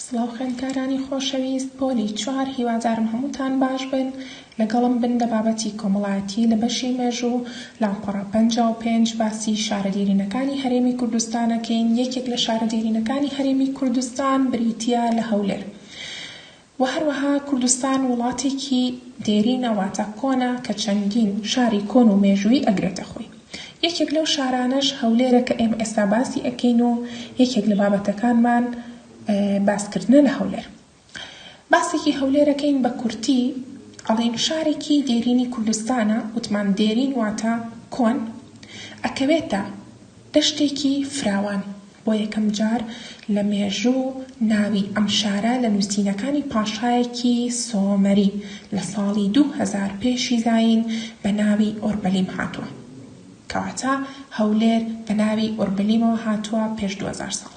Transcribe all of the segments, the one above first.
سڵاو خوێندکارانی خۆشەویست پۆلی چوار هیوادارم هەمووتان باش بن لەگەڵم بن لە بابەتی کۆمەڵایەتی لە بەشی مێژوو لاپەڕە پەنجا و پێنج باسی شارە دێرینەکانی هەرێمی کوردستان ئەکەین یەکێک لە شارە دێرینەکانی هەرێمی کوردستان بریتییە لە هەولێر وە هەروەها کوردستان وڵاتێکی دێرینە واتە کۆنە کە چەندین شاری کۆن و مێژوویی ئەگرێتە خۆی یەکێک لەو شارانەش هەولێرە کە ئێمە ئێستا باسی ئەکەین و یەکێک لە بابەتەکانمان باس کردنە لە هەولێر باسێکی هەولێر ئەکەین بە کورتی ئەڵێین شارێکی دێرینی کوردستانە وتمان دێرین واتە کۆن ئەکەوێتە دەشتێکی فراوان بۆ یەکەم جار لە مێژوو ناوی ئەم شارە لە نووسینەکانی پاشایەکی سۆمەری لە ساڵی دوو هەزار پێشی زایین بە ناوی ئۆربەلیم هاتووە. کەواتە هەولێر بە ناوی ئۆربەلیمەوە هاتووە پێش دوو هەزار ساڵ.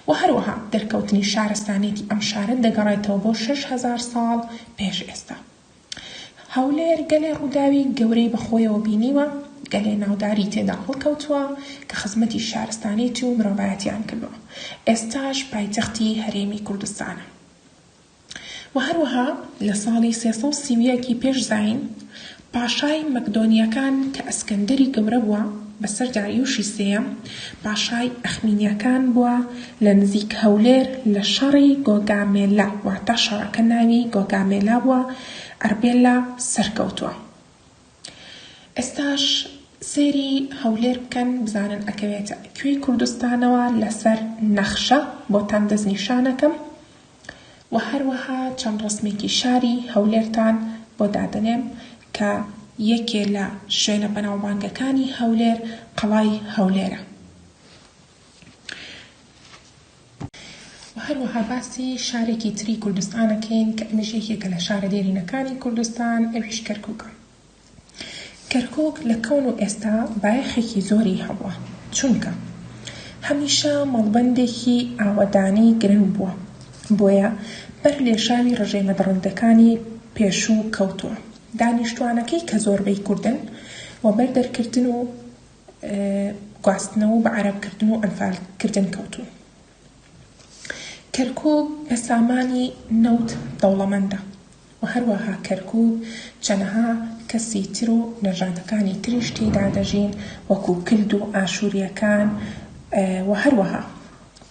وە هەروەها دەرکەوتنی شارستانیەتی ئەم شارە دەگەڕێتەوە بۆ شەش هەزار ساڵ پێش ئێستا. هەولێر گەلێ ڕووداوی گەورەی بەخۆیەوە بینیوە، گەلێ ناوداری تێدا هەڵکەوتووە کە خزمەتی شارستانیەتی و مرۆڤایەتیان کردووە، ئێستاش پایتەختی هەرێمی کوردستانە و هەروەها لە ساڵی سێ سەد و سی و یەک ی پێش زایین پاشای مەکدۆنیەکان کە ئەسکەندەری گەورە بووە بەسەر داریوشی سێیەم، پاشای ئەخمینیەکان بووە لە نزیک هەولێر لە شەڕی گۆگامێلا واتە شەڕەکە ناوی گۆگامێلا بووە ئەربێلا سەرکەوتووە ئێستاش سەیری هەولێر بکەن بزانن ئەکەوێتە کوێی کوردستانەوە لەسەر نەخشە بۆتان دەستنیشانەکەم. وە هەروەها چەند ڕەسمێکی شاری هەولێرتان بۆ دادەنێم کە یەکێ لە شوێنە بەناوبانگەکانی هەولێر قەڵای هەولێرە. وە هەروەها باسی شارێکی تری کوردستان ئەکەین کە ئەمیش یەکێکە لە شارە دێرینەکانی کوردستان ئەویش کەرکوکە. کەرکوک لە کەون و ئێستا بایەخێکی زۆری هەبووە، چونکە هەمیشە مەڵبەندێکی ئاوەدانی گرنگ بووە، بۆیە بەر لێشاوی ڕژێمە دڕندەکانی پێشوو کەوتووە. دانیشتوانەکەی کە زۆربەی کوردن، وەبەر دەرکردن و گواستنەوە و بە عەرەبکردن و ئەنفالکردن کەوتوون. کەرکووک بە سامانی نەوت دەوڵەمەندە و هەروەها کەرکووک چەنەها کەسی تر و نەژادەکانی تریش تێیدا دەژین وەکوو کلد و ئاشوورییەکان و هەروەها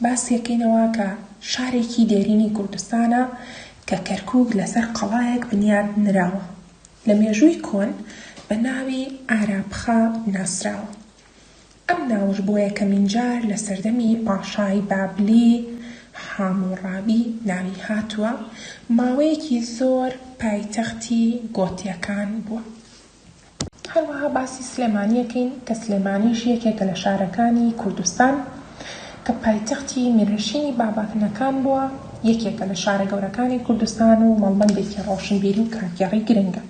باسیەکەینەوە کە شارێکی دێرینی کوردستانە کە کەرکووک لەسەر قەڵایەک بنیات نراوە لە مێژووی کۆن بە ناوی ئارابخا ناسراوە. ئەم ناوەش بۆ یەکەمین جار لە سەردەمی پاشای بابلی حاموڕابی ناوی هاتووە، ماوەیەکی زۆر پایتەختی گۆتییەکان بووە. هەروەها باسی سلێمانی ئەکەین کە سلێمانیش یەکێکە لە شارەکانی کوردستان کە پایتەختی میرنشینی بابەکنەکان بووە، یەکێکە لە شارە گەورەکانی کوردستان و مەڵبەندێکی ڕۆشنبیری و کارگێڕی گرنگە.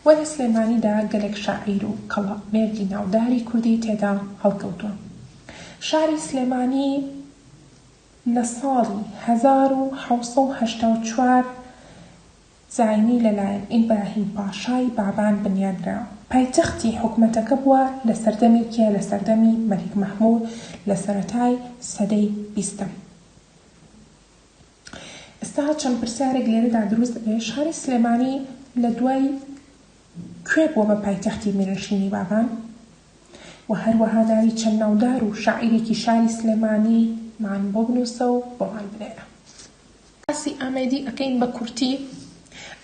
وە لە سلێمانیدا گەلێک شاعیر و کەڵە مێردی ناوداری کوردی تێدا هەڵکەوتوە. شاری سلێمانی لە ساڵی هەزار و حەوت سەد و هەشتا و چوار زاینی لە لایەن ئیبراهیم پاشای بابان بنیادرا. پایتەختی حکومەتەکە بوە لە سەردەمی کێ لە سەردەمی مەلیک مەحمود لە سەرەتای سەدەی بیستەم. ئێستا چەند پرسیارێک لێرەدا دروست دەبێت، شاری سلێمانی لە دوای کوێ بووە بە پایتەختی میرنشینی بابان؟ و هەروەها ناوی چەند ناودار و شاعیرێکی شاری سلێمانی مان بۆ بنووسە و بۆمان بنێرە. باسی ئامێدی ئەکەین بە کورتی.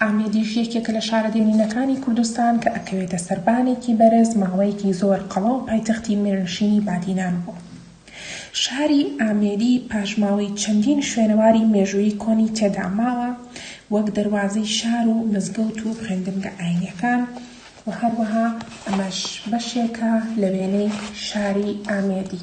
ئامێدیش یەکێکە لە شارە دێرینەکانی کوردستان کە ئەکەوێتە سەربانێکی بەرز، ماوەیەکی زۆر قەڵا و پایتەختی میرنشینی بادینان بووە. شاری ئامێدی پاشماوەی چەندین شوێنەواری مێژوویی کۆنی تێدا ماوە، وەک دەروازەی شار و مزگەوت و خوێندنگە ئاینیەکان و هەروەها ئەمەش بەشێکە لە وێنەی شاری ئامێدی.